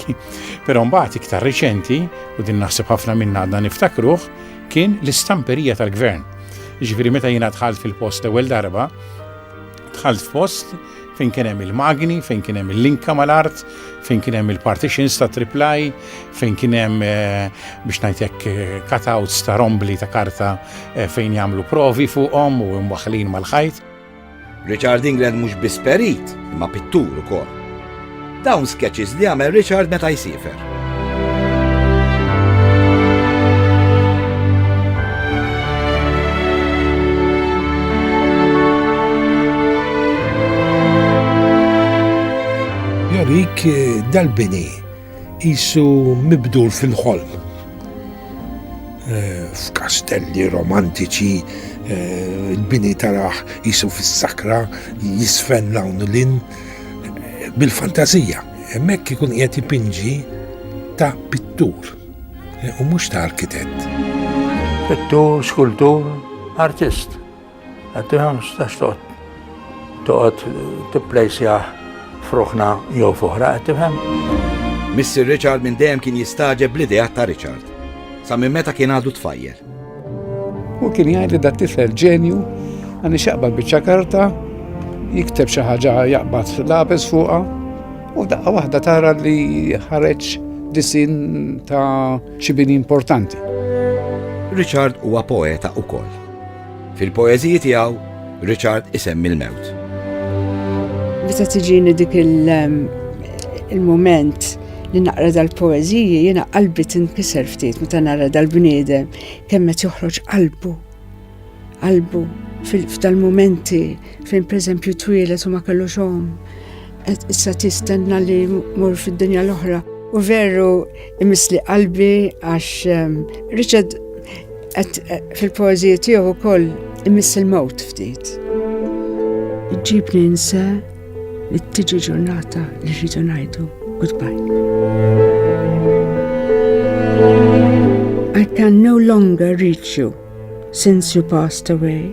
Però mbagħad iktar riċenti u din naħseb ħafna minna għadna niftakruh kien l-istamperija tal-gvern. Ġifieri meta jiena dħalt fil-post l-ewwel darba, Dħalt f'post fejn kien hemm il-magni, fejn kien hemm il-linka mal-art, fejn kien hemm il-partitions ta' triplaj, fejn kien hemm eh, biex ngħidlek eh, cutouts ta' rombli ta' karta eh, fejn jagħmlu provi fuqhom u mwaħħlin mal-ħajt. Richard England mhux biss perit, imma pittur ukoll. Dawn sketches li jagħmel Richard meta jsiefer. Jorik eh, dal-bini jisu mibdur fil-ħolm. Eh, f'kastelli romantiċi eh, il-bini taraħ jisu fis-sakra jisfen lawn l-in bil-fantazija, hemmhekk ikun qiegħed jipinġi ta' pittur eh, u mhux ta' arkitett. Pittur, skultur, artist. Għaddi 15 toqgħod toqgħod tipplejsjah f'ruħna jew fuħra qed tifhem. Mr. Richard minn dejjem kien jistaġeb bl-idea ta' Richard. Sa minn meta kien għadu tfajjel. U kien jgħid li dat tifel ġenju għan xaqbad biċċa karta, jikteb xi ħaġa jaqbad lapis fuqha u daqqa waħda tara li ħareġ disin ta' xi bini importanti. Richard huwa poeta ukoll. Fil-poeżiji tiegħu, Richard isemmi l-mewt. Meta tiġini dik il-moment li naqra dal-poeżiji jiena qalbi tinkiser ftit meta nara dal-bniedem kemm qed joħroġ qalbu. Qalbu f'dal-momenti fejn pereżempju twielet u ma kellux omm Qed issa tistenna li mur fid-dinja l-oħra. U veru imisli qalbi għax ehm, Richard qed eh, fil-poeżija tiegħu wkoll imiss il-mewt ftit. Iġġibni nse li tiġi ġurnata li rridu ngħidu goodbye. I can no longer reach you since you passed away.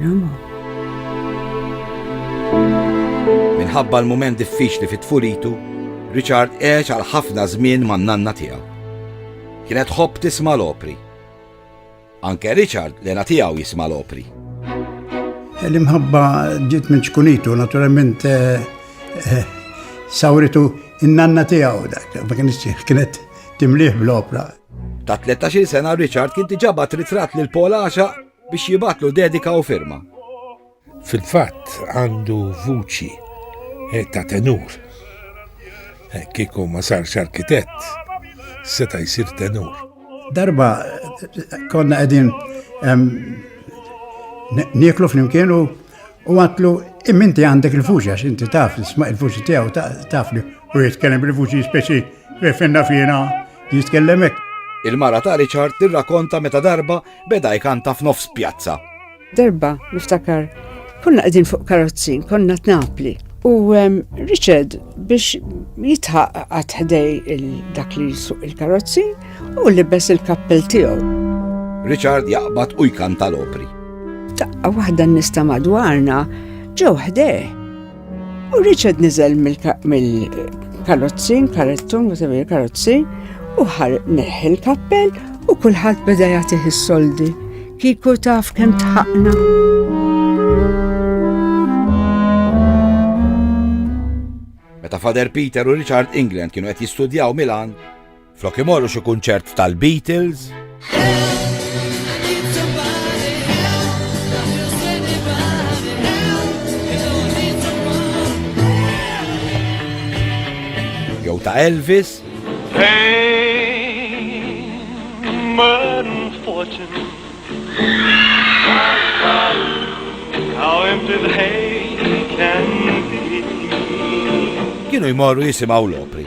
Roma. Minħabba l-mument diffiċli fit-tfulitu, Richard għex għal ħafna żmien man-nanna tiegħu. Kienet ħobb tisma' l-opri. Anke Richard lena tiegħu jisma' l-opri. L-imħabba ġiet minn ċkunitu, naturalment eh, eh, sawritu in-nanna tiegħu dak, ma kienx kienet timliħ bl-opra. Ta' 13 sena Richard kien tiġabat ritrat lil Paul Axa biex jibgħatlu dedika u firma. Fil-fatt għandu vuċi eh, ta' tenur. Eh, kieku ma sarx arkitett, seta' jsir tenur. Darba konna qegħdin nieklu flimkien u għatlu imminti għandek il-fuċi għax inti taf isma' il-fuċi tiegħu taf li u jitkellem il-fuċi speċi refinna fina jitkellem hekk. Il-mara ta' Richard tirrakonta meta darba Beda jkanta f'nofs pjazza. Darba, niftakar, konna qegħdin fuq karozzi, konna t'Napli. U ehm, Richard biex jitħaq għat ħdej dak li suq il-karozzi u libes il-kappell tiegħu. Richard jaqbad u jkanta l-opri. Taqqa waħda nista madwarna ġew ħdej. U Richard nizel mill-karozzin, karettun, whatever il-karozzin, u ħar neħi l-kappell u kulħadd beda jagħtih is-soldi. Kiku taf kemm tħaqna. Meta Fader Peter u Richard England kienu qed jistudjaw Milan, Flok imorru xi kunċert tal-Beatles. Jew ta' Elvis. Kienu jmorru jisimaw l-opri.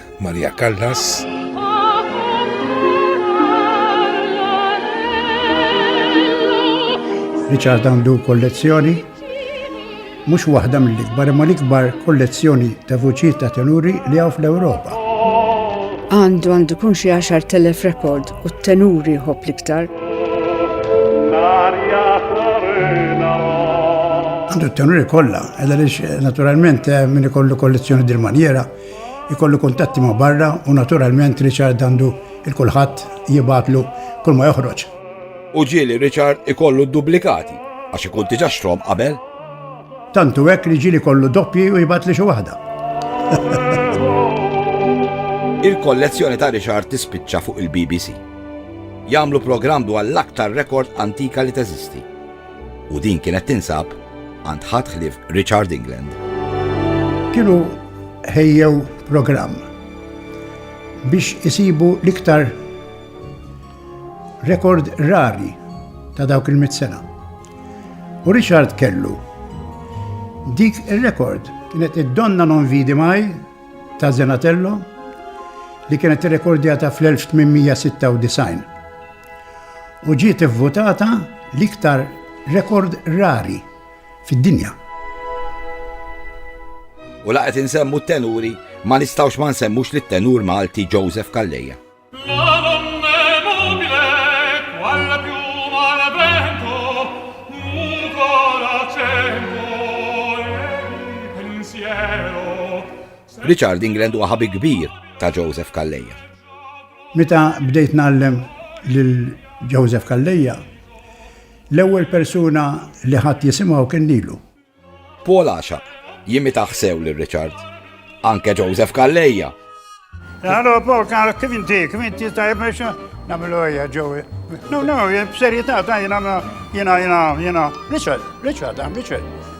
Maria Callas. Richard għandu kollezzjoni mhux waħda mill-ikbar imma l-ikbar kollezzjoni ta' vuċijiet ta' tenuri li hawn fl-Ewropa. Għandu għandu kun xi 10,000 rekord u t-tenuri jħobb l-iktar. Għandu t-tenuri kollha, edha naturalment eh, min ikollu kollezzjoni dil-manjera Ikollu kuntatti ma' barra u naturalment Richard għandu 'l kulħadd jibgħatlu kull ma joħroġ. U ġieli Richard ikollu d-dublikati għax ikun diġà xtrahom qabel. Tant hu hekk li ġieli jkollu doppji u jibgħatli xi waħda. Il-kollezzjoni ta' Richard tispiċċa fuq il-BBC. Jagħmlu programm dwar l-aktar rekord antika li teżisti. u din kienet tinsab għand ħadd ħlief Richard England. Kienu ħejjew programm biex isibu l-iktar rekord rari ta' dawk il-mit sena. U Richard kellu dik il-rekord kienet id-donna non vidi maj ta' Zenatello li kienet rekordjata fl-1896. u ġiet ivvutata l-iktar rekord rari fid-dinja. U laqet insemmu t-tenuri ma nistawx ma nsemmux li t-tenur Malti Joseph Calleja. Richard England huwa ħabib kbir ta' Joseph Calleja. Meta bdejt ngħallem lil Joseph Calleja, l-ewwel persuna li ħadt jisimgħu kien lilu. Paul għaxaq jimitah sew lil Richard, anke Joseph Calleja! Allora Paul kien kif inti, kif inti tajjeb biex nagħmlu ejja ġewwi. No, no, b'serjetà ta' jiena jiena jiena jiena Richard, Richard, Richard.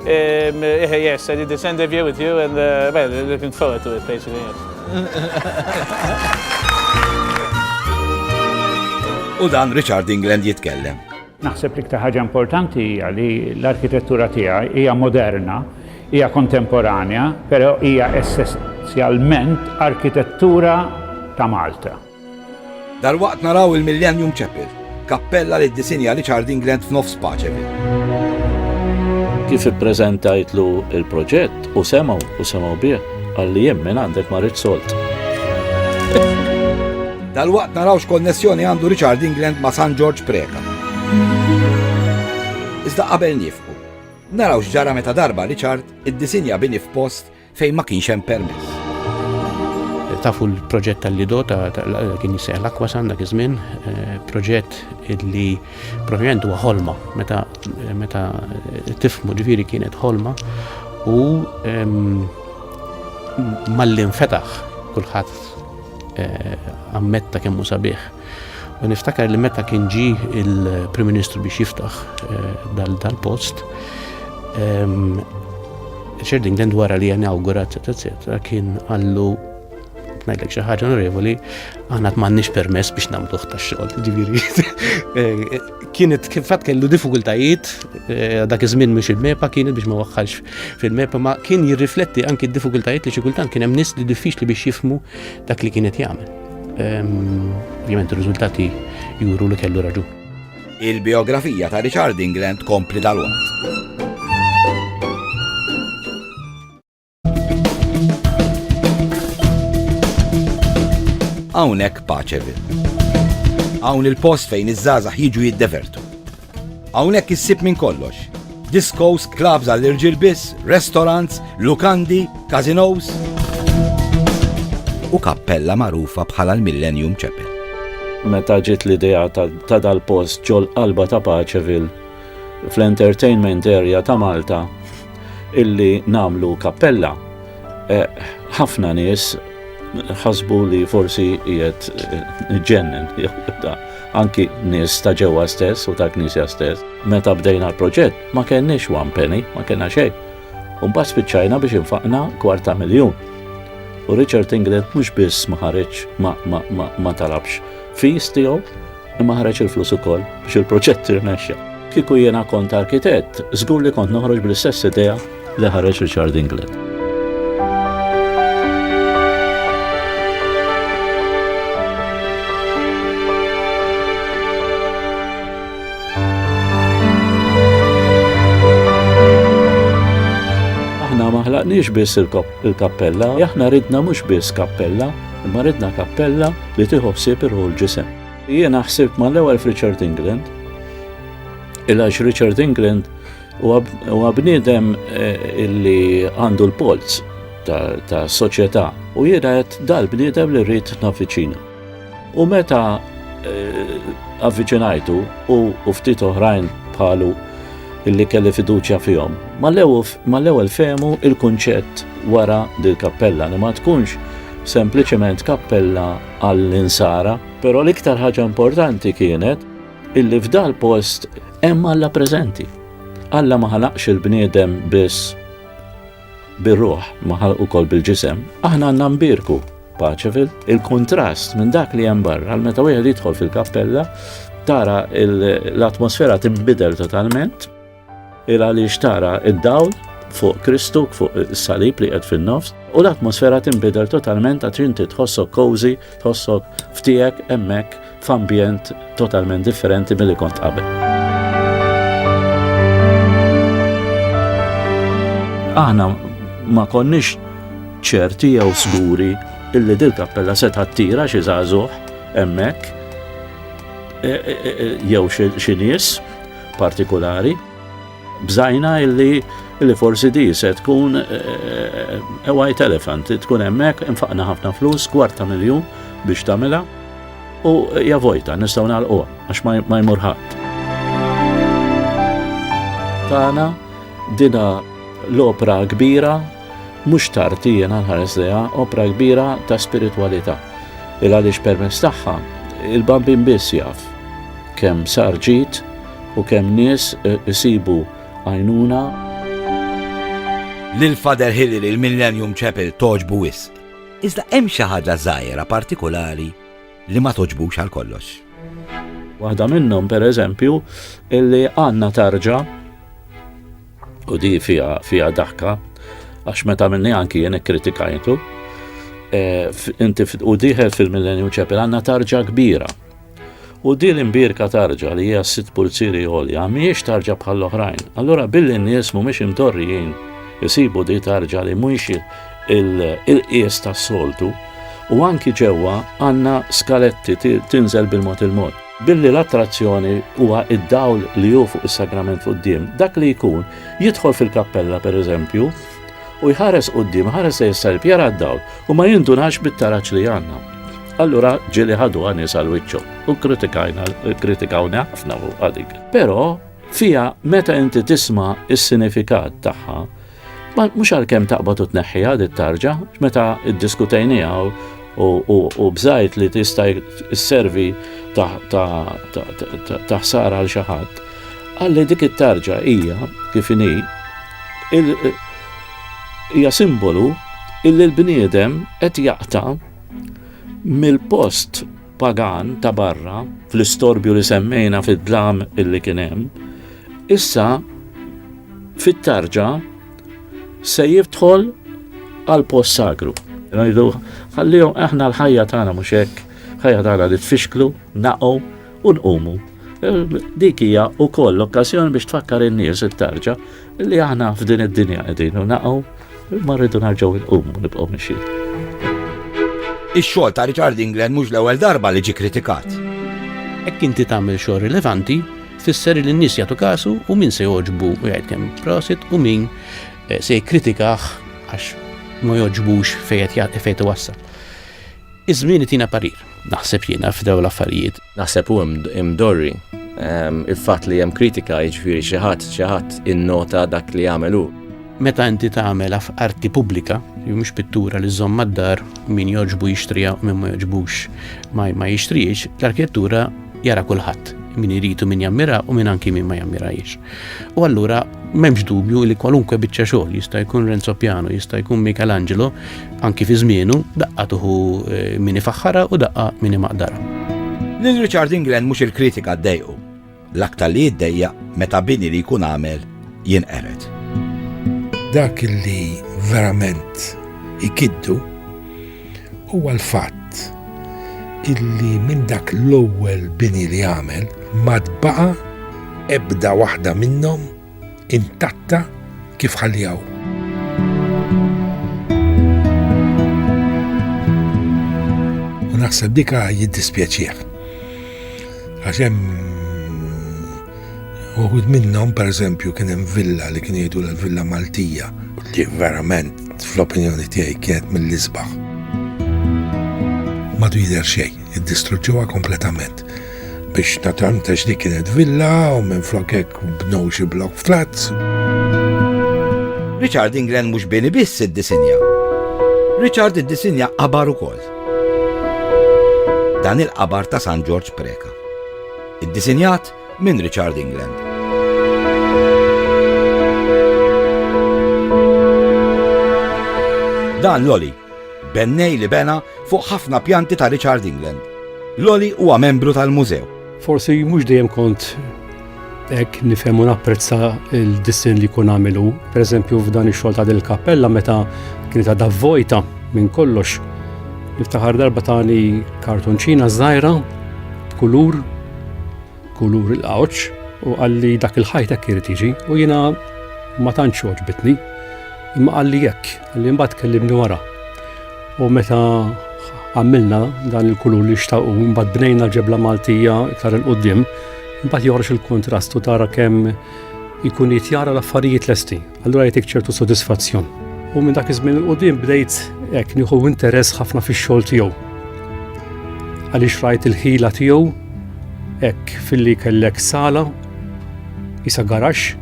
Um, eh, yes, I did this interview with you and, uh, well, looking forward to it, basically, yes. U dan Richard England jitkellem. Naħseb li ktar ħaġa importanti hija li l-arkitettura tiegħi hija moderna, hija kontemporanja, però hija essenzjalment arkitettura ta' Malta. Dalwaqt naraw il-Millennium Chapel, kappella li ddisinja Richard England f'nofs Paceville. Kif ippreżentajtlu l-proġett u semgħu u semgħu bih, qalli jien minn għandek ma rridx sold. Dalwaqt naraw x'konnessjoni għandu Richard England ma' San Ġorġ Preca. Iżda qabel niefqu, naraw x'ġara meta darba Richard iddisinja bini f'post fejn ma kienx hemm permess. Tafu l-proġett tal-Lido ta' kien jisseħ l-Aquasan dak iż-żmien, eh, proġett li provjament huwa ħolma meta meta tifmu ġifieri kienet ħolma u ehm, malli nfetaħ kulħadd eh, ammetta kemm hu sabiħ. U niftakar li meta kien ġi il-Prim Ministru biex jiftaħ eh, dal-post, ehm, Richard England wara li inaugurat, etc. kien għallu ngħidlek xi ħaġa onorevoli, aħna m'għandniex permess biex nagħmluh tax-xogħol. Ġifieri eh, kienet kif fatt kellu diffikultajiet eh, dak iż-żmien mhux il-mepa kienet biex ma waħħalx fil-mepa ma kien jirrifletti anki d-diffikultajiet li xi kultant kien hemm nies li diffiċli biex jifmu dak li kienet jagħmel. Ovvjament ir-riżultati juru li kellu raġu. Il-biografija ta' Richard England kompli tal-waqt. hawnhekk Paċeville. Hawn il-post fejn iż-żgħażagħ jiġu jiddevertu. Hawnhekk issib minn kollox. Discos, clubs għall-irġiel biss, restaurants, lukandi, casinos. U kappella magħrufa bħala l-Millennium Chapel. Meta ġiet l-idea ta' dal-post ġol qalba ta' Paċevil fl-entertainment area ta' Malta illi namlu kappella, eh, ħafna nies ħasbu li forsi jiet ġennen, anki nis ta' ġewwa stess u ta' knisja stess. Meta bdejna l-proġett, ma kenniex one penny, ma kena xejn. Umba spiċċajna biex infaqna kwarta miljun. U Richard England mhux biss ma ħareġ ma talabx fis tiegħu, Imma ħareġ il-flus ukoll biex il-proġett irnexxa. Kieku jiena kont arkitett, żgur li kont noħroġ bl-istess idea li ħareġ Richard England. xtaqniex biss il-kappella, aħna ridna mhux biss kappella, imma ridna kappella li tieħu ħsieb irħu l-ġisem. Jiena ħsibt mal-ewwel f'Richard England, il-għax Richard England huwa bniedem eh, illi għandu l-polz ta' soċjetà u jiena qed dal-bniedem li rrid navviċina. U meta eh, avviċinajtu u ftit oħrajn bħalu illi kelli fiduċja fihom. Mal-ewwel fehmu il-kunċett wara dil-kappella li ma tkunx sempliċement kappella għall-insara, però l-iktar ħaġa importanti kienet illi f'dal post hemm Alla preżenti. Alla ma ħalaqx il-bniedem biss bir-ruħ, ma ħalaq ukoll bil-ġisem. Aħna għandna nbirku paċe fil il-kontrast minn dak li hemm barra, għal meta wieħed jidħol fil-kappella, tara l-atmosfera tinbidel totalment. Il għaliex tara id-dawl fuq Kristu, fuq is-salib li qed fin-nofs, u l-atmosfera tinbidel totalment għat inti tħossok cozy, tħossok ftijek emmek f'ambjent totalment differenti mill-li kont qabel. Aħna ma konniex ċerti jew sguri illi dil-kappella se tira xi żagħżugħ hemmhekk e, e, e, jew xi nies partikolari, bżajna illi illi forsi di se tkun eh, eh, a white elephant, tkun hemmhekk infaqna ħafna flus, kwarta miljun biex tagħmilha u javojta nistgħu nagħlqu għax ma jmur ħadd. Tana dina l-opra kbira Mhux tard jiena nħares lejha opra kbira ta' spiritwalità, il-għaliex permezz tagħha il-Bambin biss jaf kemm sar ġid u kemm nies isibu għajnuna. Lil Father Hilary l-Millennium Chapel togħġbu wisq. Iżda hemm xi ħaġa żgħira partikulari li ma togħġbux għal kollox. Waħda minnhom pereżempju illi għandna tarġa U di fija, fija daħka, għax meta minni anki jien ikkritikajtu, eh, inti u diħel fil-Millennium Chapel għanna tarġa kbira. U di l-imbirka tarġa li hija sitt pulziri għolja, miex tarġa bħal oħrajn. Allora billi n-nies mhumiex imdorrijin isibu di tarġa li mhux il-qies tas-soltu, u anki ġewwa għandna skaletti tinżel bil-mod il-mod. Billi l-attrazzjoni huwa id-dawl li hu fuq is-sagrament quddiem, dak li jkun jidħol fil-kappella pereżempju u jħares quddiem, ħares se jissalib jara d-dawl u ma jindunax bit-taraġ li għandna. Allura ġieli ħadu għanis għal wiċċu u kritikajna, kritikawna ħafna fuq għadik. Però fija meta inti tisma' is-sinifikat tagħha, Ma mhux għalkemm taqbad u tneħħiha di tarġa, meta iddiskutejniha u bżajt li tista' servi ta' ħsara għal xi ħadd. Għalli dik it-tarġa hija kif inhi hija simbolu illi l-bniedem qed jaqta' mill-post pagan ta' barra fl-istorbju li semmejna fid-dlam illi kien hemm, issa fit-tarġa se jidħol għal post sagru. Ngħidu ħallihom aħna l-ħajja tagħna mhux hekk, ħajja tagħna li tfixklu, naqgħu u nqumu. Dik hija wkoll l-okkażjoni biex tfakkar in-nies it-tarġa Li aħna f'din id-dinja qegħdin u naqgħu ma rridu narġgħu nqum u nibqgħu mixi. Ix-xogħol ta' Richard England mhux l-ewwel darba li ġi kritikat. Hekk inti tagħmel xogħol rilevanti tfisser li n-nies jagħtu kasu u min se joġbu u jgħid kemm prosit u min eh, se jikkritikah għax ma joġbux fejn qed wassal. Iż-żmien itina parir, naħseb jiena, f'dawn l-affarijiet. Naħseb hu imdorri il-fatt li hemm kritika jiġifieri xi ħadd xi ħadd innota dak li għamel hu. Meta inti tagħmel arti pubblika, jew mhux pittura li żomm mad-dar, min jogħġbu jixtriha u min ma jogħġbux ma jixtriex, l-arkitettura jara kulħadd, min iridu min jammira u min anki min ma jammirajiex. U allura m'hemmx dubju li kwalunkwe biċċa xogħol jista' jkun Renzo Piano, jista' jkun Michelangelo, anki fi żmienu, daqqa tuħu eh, min ifaħħara u daqqa min imaqdara. Lil Richard England mhux il-kritika ddejqu, l-aktar li jiddejja meta bini li jkun għamel jinqered. Dak li verament ikiddu Huwa l-fatt illi minn dak l-ewwel bini li għamel ma tbaqa' ebda waħda minnhom intatta kif ħallijaw. U naħseb dika jiddispjaċih. Għax hemm uħud minnhom pereżempju kien hemm villa li kien jgħidu l-villa Maltija li verament Fl-opinjoni tiegħi kienet mill-isbaħ. Madu jidher xejn, iddistruġġuha kompletament biex naturalment għax dik kienet villa u minn flok hekk bnew xi blok flats. Richard England mhux bini biss id-disinja. Richard id-disinja qabar ukoll. Dan il-qabar ta' San George Preka. Id-disinjat Minn Richard England. Dan l-oli, bennej li bena fuq ħafna pjanti ta' Richard England. L-oli huwa membru tal-mużew. Forsi mhux dejjem kont hekk nifhem u napprezza l-dissin li jkun għamilu. Pereżempju f'dan ix-xogħol ta' il kappella meta kienet għadha vojta minn kollox. Niftaħar darba tani kartunċina żgħira b'kulur kulur il-qawċ u qalli dak il-ħajt hekk irid jiġi u jiena ma tantx għoġbitni. Imma qalli hekk, qalli mbagħad kellimni wara. U meta għamilna dan il-kulur li xtaqu, mbagħad bnejna ġebla Maltija iktar il-qudiem, mbagħad joħroġ il-kontrast u tara kemm ikun jitjara l-affarijiet lesti. Allura jtik ċertu sodisfazzjon. U minn dak iż-żmien il-qudiem bdejt hekk nieħu interess ħafna fix-xogħol tiegħu. Għaliex rajt il-ħila tiegħu hekk filli kellek sala isa garax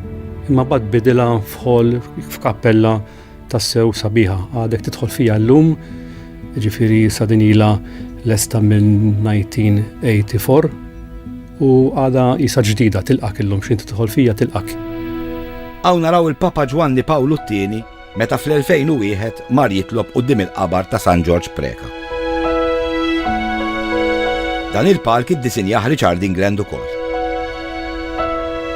imma bad bidilha f'ħol f'kappella tassew sabiħa għadek tidħol fija llum ġifiri sadinila lesta minn 1984 U għada jisa ġdida tilqak illum x'inti tidħol fija tilqak. Hawn naraw il-Papa Ġwanni Pawlu t-tieni meta fl-2001 mar jitlob quddiem il-qabar ta' San Ġorġ Preka. Dan il-palk id-disinjaħ Richard England ukoll.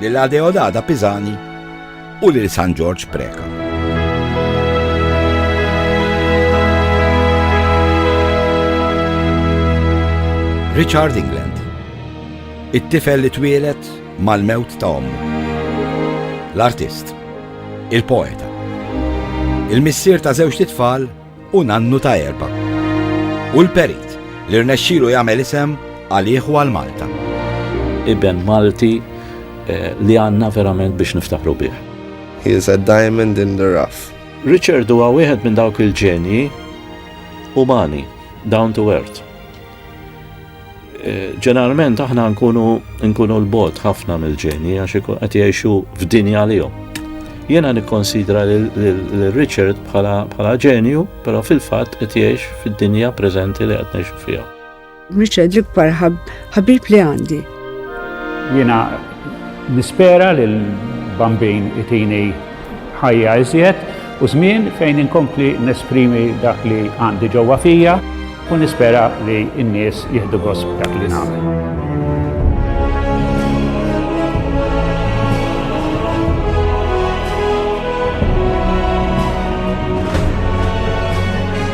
lil Adeodada Pisani u lil San Ġorġ Preca. Richard England It-tifel li twielet mal-mewt ta' ommu. L-artist, il-poeta, il-missier ta' żewġ titfal u nannu ta' erba'. Hu l-perit li rnexxielu jagħmel isem għalih u għal Malta. Iben Malti li għandna verament biex niftaħru bih. He is a diamond in the rough. Richard huwa wieħed minn dawk il-ġenji umani, down to earth. Ġeneralment aħna nkunu nkunu l-bot ħafna mill-ġeni għax ikun qed jgħixu f'dinja għalihom. Jiena nikkonsidra lil Richard bħala ġenju, però fil-fatt qed jgħix fid-dinja preżenti li qed ngħixu fiha. Richard l-ikbar ħabib li għandi. Jiena nispera li l-bambin itini ħajja iżjed u żmien fejn inkompli nesprimi dak li għandi ġewwa fija u nispera li n-nies jieħdu gost dak li nagħmel.